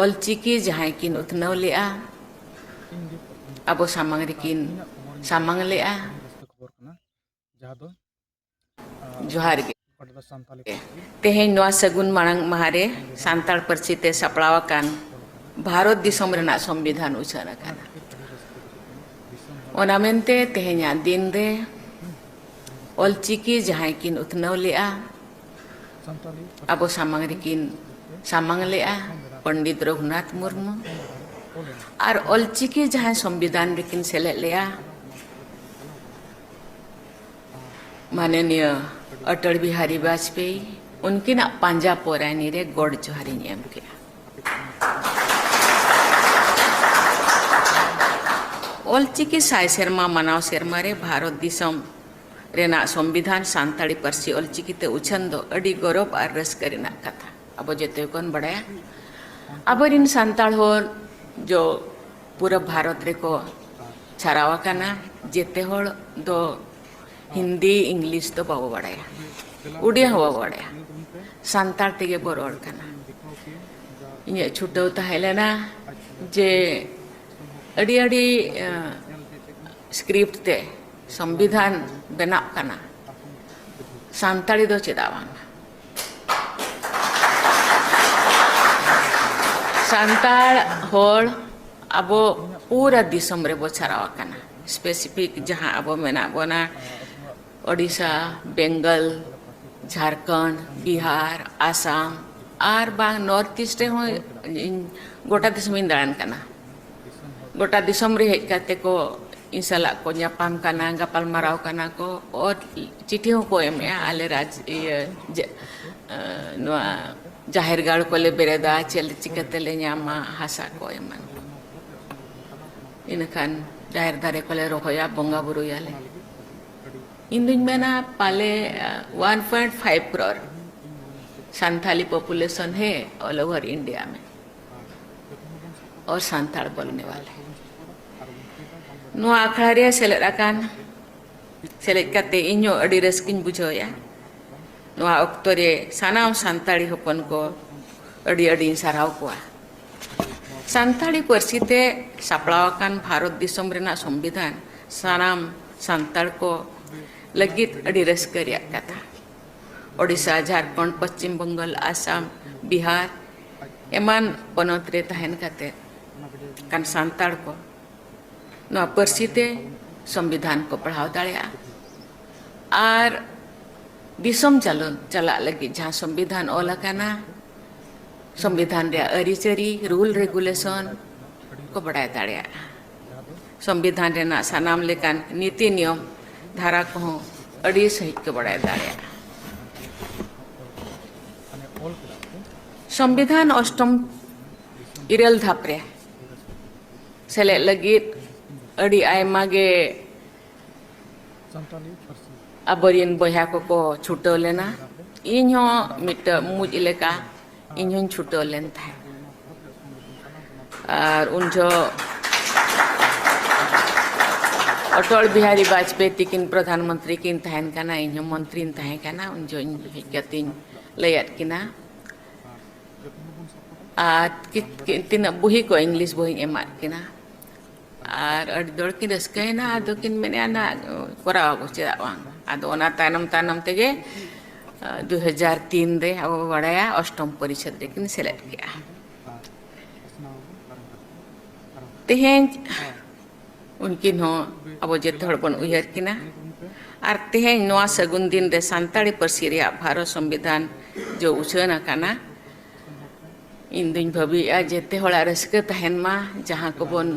ᱚᱞᱪᱤᱠᱤ ᱡᱟᱦᱟᱸᱭ ᱠᱤᱱ ᱩᱛᱱᱟᱹᱣ ᱞᱮᱫᱼᱟ ᱟᱵᱚ ᱥᱟᱢᱟᱝ ᱨᱮᱠᱤᱱ ᱥᱟᱢᱟᱝ ᱞᱮᱫᱼᱟ ᱡᱚᱦᱟᱨ ᱜᱮ ᱛᱮᱦᱮᱧ ᱱᱚᱣᱟ ᱥᱟᱹᱜᱩᱱ ᱢᱟᱲᱟᱝ ᱢᱟᱦᱟ ᱨᱮ ᱥᱟᱱᱛᱟᱲ ᱯᱟᱹᱨᱥᱤ ᱛᱮ ᱥᱟᱯᱲᱟᱣ ᱟᱠᱟᱱ ᱵᱷᱟᱨᱚᱛ ᱫᱤᱥᱚᱢ ᱨᱮᱱᱟᱜ ᱥᱚᱝᱵᱤᱫᱷᱟᱱ ᱩᱪᱷᱟᱹᱱ ᱟᱠᱟᱱᱟ ᱚᱱᱟ ᱢᱮᱱᱛᱮ ᱛᱮᱦᱮᱧᱟᱜ ᱫᱤᱱ ᱨᱮ ᱚᱞᱪᱤᱠᱤ ᱡᱟᱦᱟᱸᱭ ᱠᱤᱱ ᱩᱛᱱᱟᱹᱣ ᱞᱮᱫᱼᱟ ᱟᱵᱚ ᱥᱟᱢᱟᱝ ᱨᱮᱠᱤᱱ ᱥᱟᱢᱟᱝ ᱞᱮᱜᱼᱟ ᱯᱚᱱᱰᱤᱛ ᱨᱚᱜᱷᱩᱱᱟᱛᱷ ᱢᱩᱨᱢᱩ ᱟᱨ ᱚᱞᱪᱤᱠᱤ ᱡᱟᱦᱟᱸᱭ ᱥᱚᱝᱵᱤᱫᱷᱟᱱ ᱨᱮᱠᱤᱱ ᱥᱮᱞᱮᱫ ᱞᱮᱜᱼᱟ ᱢᱟᱱᱚᱱᱤᱭᱚ ᱚᱴᱚᱞ ᱵᱤᱦᱟᱨᱤ ᱵᱟᱡᱽᱯᱮᱭᱤ ᱩᱱᱠᱤᱱᱟᱜ ᱯᱟᱸᱡᱟ ᱯᱚᱨᱟᱭᱱᱤ ᱨᱮ ᱜᱚᱰ ᱡᱚᱦᱟᱨᱤᱧ ᱮᱢ ᱠᱮᱜᱼᱟ ᱚᱞᱪᱤᱠᱤ ᱥᱟᱭ ᱥᱮᱨᱢᱟ ᱢᱟᱱᱟᱣ ᱥᱮᱨᱢᱟ ᱨᱮ ᱵᱷᱟᱨᱚᱛ ᱫᱤᱥᱚᱢ ᱨᱮᱱᱟᱜ ᱥᱚᱢᱵᱤᱫᱷᱟᱱ ᱥᱟᱱᱛᱟᱲᱤ ᱯᱟᱹᱨᱥᱤ ᱚᱞᱪᱤᱠᱤ ᱛᱮ ᱩᱪᱷᱟᱹᱱ ᱫᱚ ᱟᱹᱰᱤ ᱜᱚᱨᱚᱵᱽ ᱟᱨ ᱨᱟᱹᱥᱠᱟᱹ ᱨᱮᱱᱟᱜ ᱠᱟᱛᱷᱟ ᱟᱵᱚ ᱡᱚᱛᱚ ᱜᱮᱵᱚᱱ ᱵᱟᱲᱟᱭᱟ ᱟᱵᱚᱨᱮᱱ ᱥᱟᱱᱛᱟᱲ ᱦᱚᱲ ᱡᱚ ᱯᱩᱨᱟᱹ ᱵᱷᱟᱨᱚᱛ ᱨᱮᱠᱚ ᱪᱷᱟᱨᱟᱣ ᱟᱠᱟᱱᱟ ᱡᱮᱛᱮ ᱦᱚᱲ ᱫᱚ ᱦᱤᱱᱫᱤ ᱤᱝᱞᱤᱥ ᱫᱚ ᱵᱟᱵᱚ ᱵᱟᱲᱟᱭᱟ ᱩᱰᱤᱭᱟ ᱦᱚᱸ ᱵᱟᱵᱚ ᱵᱟᱲᱟᱭᱟ ᱥᱟᱱᱛᱟᱲ ᱛᱮᱜᱮ ᱵᱚ ᱨᱚᱲ ᱠᱟᱱᱟ ᱤᱧᱟᱹᱜ ᱪᱷᱩᱴᱟᱹᱣ ᱛᱟᱦᱮᱸ ᱞᱮᱱᱟ ᱡᱮ ᱟᱹᱰᱤ ᱟᱹᱰᱤ ᱥᱠᱨᱤᱯᱴ ᱛᱮ ᱥᱚᱝᱵᱤᱫᱷᱟᱱ ᱵᱮᱱᱟᱜ ᱠᱟᱱᱟ ᱥᱟᱱᱛᱟᱲᱤ ᱫᱚ ᱪᱮᱫᱟᱜ ᱵᱟᱝ ᱥᱟᱱᱛᱟᱲ ᱦᱚᱲ ᱟᱵᱚ ᱯᱩᱨᱟᱹ ᱫᱤᱥᱚᱢ ᱨᱮᱵᱚ ᱪᱷᱟᱨᱟᱣ ᱟᱠᱟᱱᱟ ᱥᱯᱮᱥᱤᱯᱷᱤᱠ ᱡᱟᱦᱟᱸ ᱟᱵᱚ ᱢᱮᱱᱟᱜ ᱵᱚᱱᱟ ᱳᱰᱤᱥᱟ ᱵᱮᱝᱜᱚᱞ ᱡᱷᱟᱲᱠᱷᱚᱸᱰ ᱵᱤᱦᱟᱨ ᱟᱥᱟᱢ ᱟᱨ ᱵᱟᱝ ᱱᱚᱨᱛᱷ ᱤᱥᱴ ᱨᱮᱦᱚᱸ ᱤᱧ ᱜᱚᱴᱟ ᱫᱤᱥᱚᱢᱤᱧ ᱫᱟᱬᱟᱱ ᱠᱟᱱᱟ ᱜᱚᱴᱟ ᱫᱤᱥᱚᱢ ᱨᱮ ᱦᱮᱡ ᱠᱟᱛᱮ ᱠᱚ ᱤᱧ ᱥᱟᱞᱟᱜ ᱠᱚ ᱧᱟᱯᱟᱢ ᱠᱟᱱᱟ ᱜᱟᱯᱟᱞ ᱢᱟᱨᱟᱣ ᱠᱟᱱᱟ ᱠᱚ ᱚᱛ ᱪᱤᱴᱷᱤ ᱦᱚᱸᱠᱚ ᱮᱢᱮᱜᱼᱟ ᱟᱞᱮ ᱨᱟᱡᱽ ᱤᱭᱟᱹ ᱱᱚᱣᱟ ᱡᱟᱦᱮᱨ ᱜᱟᱲ ᱠᱚᱞᱮ ᱵᱮᱨᱮᱫᱟ ᱪᱮᱫ ᱪᱤᱠᱟᱹᱛᱮ ᱞᱮ ᱧᱟᱢᱟ ᱦᱟᱥᱟ ᱠᱚ ᱮᱢᱟᱱ ᱠᱚ ᱤᱱᱟᱹᱠᱷᱟᱱ ᱡᱟᱦᱮᱨ ᱫᱟᱨᱮ ᱠᱚᱞᱮ ᱨᱚᱦᱚᱭᱟ ᱵᱚᱸᱜᱟ ᱵᱩᱨᱩᱭᱟᱞᱮ ᱤᱧ ᱫᱩᱧ ᱢᱮᱱᱟ ᱯᱟᱞᱮ 1.5 ᱠᱨᱚᱨ ᱥᱟᱱᱛᱷᱟᱞᱤ ᱯᱚᱯᱩᱞᱮᱥᱚᱱ ᱦᱮ ᱚᱞ ᱳᱵᱷᱟᱨ ᱤᱱᱰᱤᱭᱟ ᱢᱮ ᱚᱨ ᱥᱟᱱᱛᱟᱲ ᱵᱚᱞᱱᱮ ᱣᱟᱞᱮ ᱱᱚᱣᱟ ᱟᱠᱷᱲᱟ ᱨᱮ ᱥᱮᱞᱮᱫ ᱟᱠᱟᱱ ᱥᱮᱞᱮᱫ ᱠᱟᱛᱮ ᱤᱧ ᱦᱚᱸ ᱟᱹᱰᱤ ᱨᱟᱹᱥᱠᱟᱹᱧ ᱵᱩᱡᱷᱟᱹᱣᱮᱫᱼᱟ ᱱᱚᱣᱟ ᱚᱠᱛᱚ ᱨᱮ ᱥᱟᱱᱟᱢ ᱥᱟᱱᱛᱟᱲᱤ ᱦᱚᱯᱚᱱ ᱠᱚ ᱟᱹᱰᱤ ᱟᱹᱰᱤᱧ ᱥᱟᱨᱦᱟᱣ ᱠᱚᱣᱟ ᱥᱟᱱᱛᱟᱲᱤ ᱯᱟᱹᱨᱥᱤ ᱛᱮ ᱥᱟᱯᱲᱟᱣ ᱟᱠᱟᱱ ᱵᱷᱟᱨᱚᱛ ᱫᱤᱥᱚᱢ ᱨᱮᱱᱟᱜ ᱥᱚᱝᱵᱤᱫᱷᱟᱱ ᱥᱟᱱᱟᱢ ᱥᱟᱱᱛᱟᱲ ᱠᱚ ᱞᱟᱹᱜᱤᱫ ᱟᱹᱰᱤ ᱨᱟᱹᱥᱠᱟᱹ ᱨᱮᱭᱟᱜ ᱠᱟᱛᱷᱟ ᱳᱰᱤᱥᱟ ᱡᱷᱟᱲᱠᱷᱚᱸᱰ ᱯᱚᱥᱪᱤᱢ ᱵᱮᱝᱜᱚᱞ ᱟᱥᱟᱢ ᱵᱤᱦᱟᱨ ᱮᱢᱟᱱ ᱯᱚᱱᱚᱛ ᱨᱮ ᱛᱟᱦᱮᱱ ᱠᱟᱛᱮ ᱠᱟᱱ ᱥᱟᱱᱛᱟᱲ ᱠᱚ ᱱᱚᱣᱟ ᱯᱟᱹᱨᱥᱤ ᱛᱮ ᱥᱚᱝᱵᱤᱫᱷᱟᱱ ᱠᱚ ᱯᱟᱲᱦᱟᱣ ᱫᱟᱲᱮᱭᱟᱜᱼᱟ ᱟᱨ ᱫᱤᱥᱚᱢ ᱪᱟᱞᱚ ᱪᱟᱞᱟᱜ ᱞᱟᱹᱜᱤᱫ ᱡᱟᱦᱟᱸ ᱥᱚᱝᱵᱤᱫᱷᱟᱱ ᱚᱞ ᱟᱠᱟᱱᱟ ᱥᱚᱝᱵᱤᱫᱷᱟᱱ ᱨᱮᱭᱟᱜ ᱟᱹᱨᱤᱪᱟᱹᱨᱤ ᱨᱩᱞ ᱨᱮᱜᱩᱞᱮᱥᱚᱱ ᱠᱚ ᱵᱟᱲᱟᱭ ᱫᱟᱲᱮᱭᱟᱜᱼᱟ ᱥᱚᱝᱵᱤᱫᱷᱟᱱ ᱨᱮᱱᱟᱜ ᱥᱟᱱᱟᱢ ᱞᱮᱠᱟᱱ ᱱᱤᱛᱤ ᱱᱤᱭᱚᱢ ᱫᱷᱟᱨᱟ ᱠᱚᱦᱚᱸ ᱟᱹᱰᱤ ᱥᱟᱺᱦᱤᱡ ᱠᱚ ᱵᱟᱲᱟᱭ ᱫᱟᱲᱮᱭᱟᱜᱼᱟ ᱥᱚᱝᱵᱤᱫᱷᱟᱱ ᱚᱥᱴᱚᱢ ᱤᱨᱟᱹᱞ ᱫᱷᱟᱯ ᱨᱮ ᱥᱮᱞᱮᱫ ᱞᱟᱹᱜᱤᱫ ᱟᱹᱰᱤ ᱟᱭᱢᱟ ᱜᱮ ᱟᱵᱚᱨᱮᱱ ᱵᱚᱭᱦᱟ ᱠᱚᱠᱚ ᱪᱷᱩᱴᱟᱹᱣ ᱞᱮᱱᱟ ᱤᱧ ᱦᱚᱸ ᱢᱤᱫᱴᱟᱹᱝ ᱢᱩᱡ ᱞᱮᱠᱟ ᱤᱧ ᱦᱚᱸᱧ ᱪᱷᱩᱴᱟᱹᱣ ᱞᱮᱱ ᱛᱟᱦᱮᱸᱫ ᱟᱨ ᱩᱱ ᱡᱚᱦᱚᱜ ᱚᱴᱚᱞ ᱵᱤᱦᱟᱨᱤ ᱵᱟᱡᱽᱯᱮᱭᱤ ᱛᱤᱠᱤᱱ ᱯᱨᱚᱫᱷᱟᱱ ᱢᱚᱱᱛᱨᱤ ᱠᱤᱱ ᱛᱟᱦᱮᱱ ᱠᱟᱱᱟ ᱤᱧ ᱦᱚᱸ ᱢᱚᱱᱛᱨᱤᱧ ᱛᱟᱦᱮᱸ ᱠᱟᱱᱟ ᱩᱱ ᱡᱚᱦᱚᱜ ᱤᱧ ᱦᱮᱡ ᱠᱟᱛᱮᱧ ᱞᱟᱹᱭᱟᱫ ᱠᱤᱱᱟ ᱟᱨ ᱛᱤᱱᱟᱹᱜ ᱵᱩᱦᱤ ᱠᱚ ᱤᱝᱞᱤᱥ ᱵᱩᱦᱤᱧ ᱮᱢᱟᱫ ᱠᱤᱱᱟ ᱟᱨ ᱟᱹᱰᱤ ᱫᱚᱲ ᱠᱤᱱ ᱨᱟᱹᱥᱠᱟᱹᱭᱮᱱᱟ ᱟᱫᱚ ᱠᱤᱱ ᱢᱮᱱᱮᱫᱼᱟ ᱱᱟ ᱠᱚᱨᱟᱣ ᱟᱵᱚ ᱪᱮᱫᱟᱜ ᱵᱟᱝ ᱟᱫᱚ ᱚᱱᱟ ᱛᱟᱭᱱᱚᱢ ᱛᱟᱭᱱᱚᱢ ᱛᱮᱜᱮ ᱫᱩ ᱦᱟᱡᱟᱨ ᱛᱤᱱ ᱨᱮ ᱟᱵᱚ ᱵᱚ ᱵᱟᱲᱟᱭᱟ ᱚᱥᱴᱚᱢ ᱯᱚᱨᱤᱪᱷᱮᱫ ᱨᱮᱠᱤᱱ ᱥᱮᱞᱮᱫ ᱠᱮᱜᱼᱟ ᱛᱮᱦᱮᱧ ᱩᱱᱠᱤᱱ ᱦᱚᱸ ᱟᱵᱚ ᱡᱚᱛᱚ ᱦᱚᱲ ᱵᱚᱱ ᱩᱭᱦᱟᱹᱨ ᱠᱤᱱᱟ ᱟᱨ ᱛᱮᱦᱮᱧ ᱱᱚᱣᱟ ᱥᱟᱹᱜᱩᱱ ᱫᱤᱱ ᱨᱮ ᱥᱟᱱᱛᱟᱲᱤ ᱯᱟᱹᱨᱥᱤ ᱨᱮᱭᱟᱜ ᱵᱷᱟᱨᱚᱛ ᱥᱚᱝᱵᱤᱫᱷᱟᱱ ᱡᱚ ᱩᱪᱷᱟᱹᱱ ᱟᱠᱟᱱᱟ ᱤᱧ ᱫᱩᱧ ᱵᱷᱟᱹᱵᱤᱭᱮᱫᱼᱟ ᱡᱮᱛᱮ ᱦᱚᱲᱟᱜ ᱨᱟᱹᱥᱠᱟᱹ ᱛᱟᱦᱮᱱ ᱢᱟ ᱡᱟᱦᱟᱸ ᱠᱚᱵᱚᱱ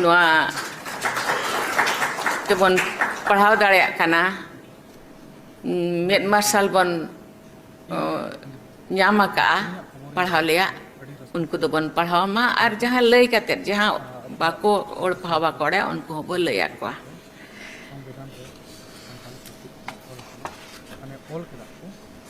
ᱱᱚᱣᱟ ᱛᱮᱵᱚᱱ ᱯᱟᱲᱦᱟᱣ ᱫᱟᱲᱮᱭᱟᱜ ᱠᱟᱱᱟ ᱢᱮᱫ ᱢᱟᱨᱥᱟᱞ ᱵᱚᱱ ᱧᱟᱢ ᱟᱠᱟᱜᱼᱟ ᱯᱟᱲᱦᱟᱣ ᱞᱮᱭᱟᱜ ᱩᱱᱠᱩ ᱫᱚᱵᱚᱱ ᱯᱟᱲᱦᱟᱣ ᱢᱟ ᱟᱨ ᱡᱟᱦᱟᱸ ᱞᱟᱹᱭ ᱠᱟᱛᱮᱫ ᱡᱟᱦᱟᱸ ᱵᱟᱠᱚ ᱚᱞ ᱯᱟᱲᱦᱟᱣ ᱵᱟᱠᱚ ᱵᱟᱲᱟᱭᱟ ᱩᱱᱠᱩ ᱦᱚᱸᱵᱚ ᱞᱟᱹᱭ ᱟᱠᱚᱣᱟ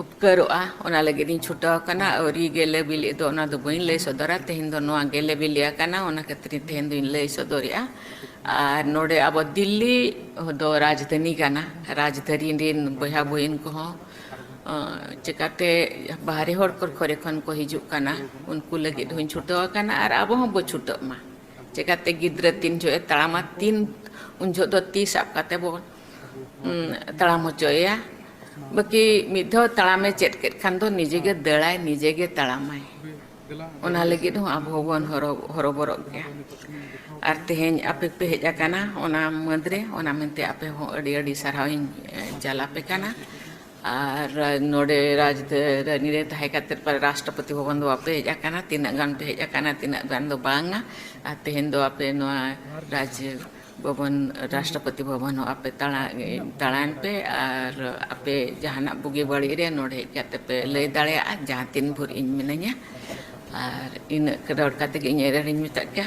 ᱩᱯᱠᱟᱹᱨᱚᱜᱼᱟ ᱚᱱᱟ ᱞᱟᱹᱜᱤᱫ ᱤᱧ ᱪᱷᱩᱴᱟᱹᱣ ᱟᱠᱟᱱᱟ ᱟᱹᱣᱨᱤ ᱜᱮᱞᱮ ᱵᱤᱞᱤᱜ ᱫᱚ ᱚᱱᱟ ᱫᱚ ᱵᱟᱹᱧ ᱞᱟᱹᱭ ᱥᱚᱫᱚᱨᱟ ᱛᱮᱦᱮᱧ ᱫᱚ ᱱᱚᱣᱟ ᱜᱮᱞᱮ ᱵᱤᱞᱤ ᱟᱠᱟᱱᱟ ᱚᱱᱟ ᱠᱷᱟᱹᱛᱤᱨ ᱛᱮᱦᱮᱧ ᱫᱚᱧ ᱞᱟᱹᱭ ᱥᱚᱫᱚᱨᱮᱜᱼᱟ ᱟᱨ ᱱᱚᱰᱮ ᱟᱵᱚ ᱫᱤᱞᱞᱤ ᱫᱚ ᱨᱟᱡᱽᱫᱷᱟᱹᱱᱤ ᱠᱟᱱᱟ ᱨᱟᱡᱽᱫᱷᱟᱹᱱᱤ ᱨᱮᱱ ᱵᱚᱭᱦᱟ ᱵᱩᱦᱤᱱ ᱠᱚᱦᱚᱸ ᱪᱤᱠᱟᱹᱛᱮ ᱵᱟᱦᱨᱮ ᱦᱚᱲ ᱠᱚ ᱠᱚᱨᱮ ᱠᱷᱚᱱ ᱠᱚ ᱦᱤᱡᱩᱜ ᱠᱟᱱᱟ ᱩᱱᱠᱩ ᱞᱟᱹᱜᱤᱫ ᱦᱚᱸᱧ ᱪᱷᱩᱴᱟᱹᱣ ᱟᱠᱟᱱᱟ ᱟᱨ ᱟᱵᱚ ᱦᱚᱸ ᱵᱚᱱ ᱪᱷᱩᱴᱟᱹᱜ ᱢᱟ ᱪᱤᱠᱟᱹᱛᱮ ᱜᱤᱫᱽᱨᱟᱹ ᱛᱤᱱ ᱡᱚᱦᱚᱜ ᱮ ᱛᱟᱲᱟᱢᱟ ᱛᱤᱱ ᱩᱱ ᱡᱚᱦᱚᱜ ᱫᱚ ᱛᱤ ᱥᱟᱵ ᱠᱟᱛᱮᱫ ᱵᱚᱱ ᱛᱟᱲᱟᱢ ᱦᱚᱪᱚᱭᱮᱭᱟ ᱵᱟᱹᱠᱤ ᱢᱤᱫ ᱫᱷᱟᱣ ᱛᱟᱲᱟᱢᱮ ᱪᱮᱫ ᱠᱮᱫ ᱠᱷᱟᱱ ᱫᱚ ᱱᱤᱡᱮ ᱜᱮ ᱫᱟᱹᱲᱟᱭ ᱱᱤᱡᱮ ᱜᱮ ᱛᱟᱲᱟᱢᱟᱭ ᱚᱱᱟ ᱞᱟᱹᱜᱤᱫ ᱦᱚᱸ ᱟᱵᱚ ᱦᱚᱸᱵᱚᱱ ᱦᱚᱨᱚᱵᱚᱨᱚᱜ ᱜᱮᱭᱟ ᱟᱨ ᱛᱮᱦᱮᱧ ᱟᱯᱮ ᱯᱮ ᱦᱮᱡ ᱟᱠᱟᱱᱟ ᱚᱱᱟ ᱢᱟᱹᱫᱽ ᱨᱮ ᱚᱱᱟ ᱢᱮᱱᱛᱮ ᱟᱯᱮ ᱦᱚᱸ ᱟᱹᱰᱤ ᱟᱹᱰᱤ ᱥᱟᱨᱦᱟᱣ ᱤᱧ ᱪᱟᱞ ᱟᱯᱮ ᱠᱟᱱᱟ ᱟᱨ ᱱᱚᱰᱮ ᱨᱟᱡᱽᱫᱷᱟᱱᱤ ᱨᱮ ᱛᱟᱦᱮᱸ ᱠᱟᱛᱮᱫ ᱯᱟᱞᱮ ᱨᱟᱥᱴᱨᱚᱯᱚᱛᱤ ᱵᱷᱚᱵᱚᱱ ᱫᱚ ᱵᱟᱯᱮ ᱦᱮᱡ ᱟᱠᱟᱱᱟ ᱛᱤᱱᱟᱹᱜ ᱜᱟᱱ ᱯᱮ ᱦᱮᱡ ᱟᱠᱟᱱᱟ ᱛᱤᱱᱟᱹᱜ ᱜᱟᱱ ᱫᱚ ᱵᱟᱝᱟ ᱟᱨ ᱛᱮᱦᱮᱧ ᱫᱚ ᱟᱯᱮ ᱱᱚᱣᱟ ᱨᱟᱡᱽ ᱵᱷᱚᱵᱚᱱ ᱨᱟᱥᱴᱨᱚᱯᱚᱛᱤ ᱵᱷᱚᱵᱚᱱ ᱦᱚᱸ ᱟᱯᱮ ᱛᱟᱲᱟ ᱛᱟᱲᱟᱭᱮᱱ ᱯᱮ ᱟᱨ ᱟᱯᱮ ᱡᱟᱦᱟᱱᱟᱜ ᱵᱩᱜᱤ ᱵᱟᱹᱲᱤᱡ ᱨᱮ ᱱᱚᱰᱮ ᱦᱮᱡ ᱠᱟᱛᱮ ᱯᱮ ᱞᱟᱹᱭ ᱫᱟᱲᱮᱭᱟᱜᱼᱟ ᱡᱟᱦᱟᱸ ᱛᱤᱱ ᱵᱷᱳᱨ ᱤᱧ ᱢᱤᱱᱟᱹᱧᱟ ᱟᱨ ᱤᱱᱟᱹᱜ ᱨᱚᱲ ᱠᱟᱛᱮ ᱜᱮ ᱤᱧ ᱮᱨᱮᱲᱤᱧ ᱢᱮᱛᱟᱜ ᱯᱮᱭᱟ